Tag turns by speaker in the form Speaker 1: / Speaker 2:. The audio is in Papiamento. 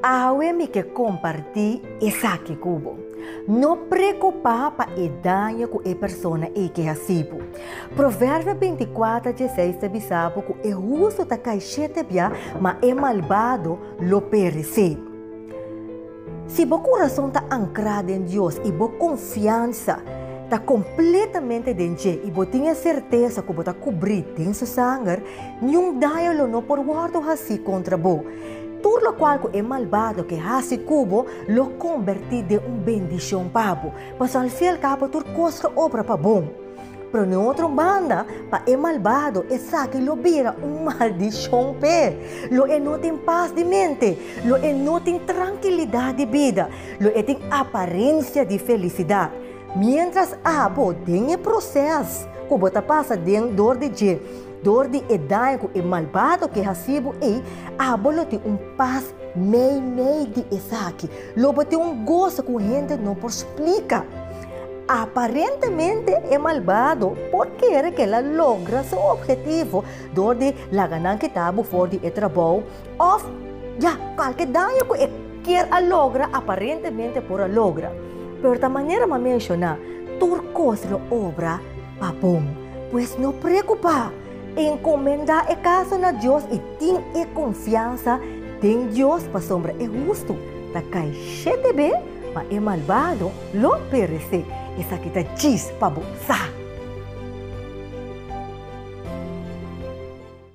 Speaker 1: Awe mi ke kompartí esaki ku bo. No preokupá pa e daño ku e persona ei ke hasi bo. Proverbio bintikwatro dje seis ta bisa bo ku e hustu ta kai shete bia, ma e malbado lo peresé. Si bo kurason ta ankrá den Dios i bo konfiansa ta kompletamente den dje i bo tin e sertesa ku bo ta kubrí den su sanger, niun daño lo no por wòrdu hasí kontra bo. Tur lokual ku e malbado ke hasi ku bo lo kombertí den un bendishon pa bo, pasobra al fin i al kabo tur kos lo obra pa bon. Pero den otro banda, pa e malbado esaki lo bira un maldishon p'e. Lo e no tin pas di mente, lo e no tin trankilidat di bida, lo e tin aparensia di felisidat. Miéntras abo den e proses ku bo ta pasa den dor di dje, dor di e daño ku e malbado ke hasi bo ei, abo lo tin un pas meimei di esaki. Lo bo tin un goso ku hende no por splika. Aparentemente e malbado por kere ke la logra su objetivo dor di laga nan kita bo for di e trabou òf ya kualke daño ku e kier a logra aparentemente por a logra. Pero ta manera m'a menshoná, tur kos lo obra pa bon. Pues no preokupá, enkomendá e kaso na Dios i tin e konfiansa den Dios pasobra e hustu ta kai shete be, ma e malbado Lo perece, esaki ta djis pa bo sa.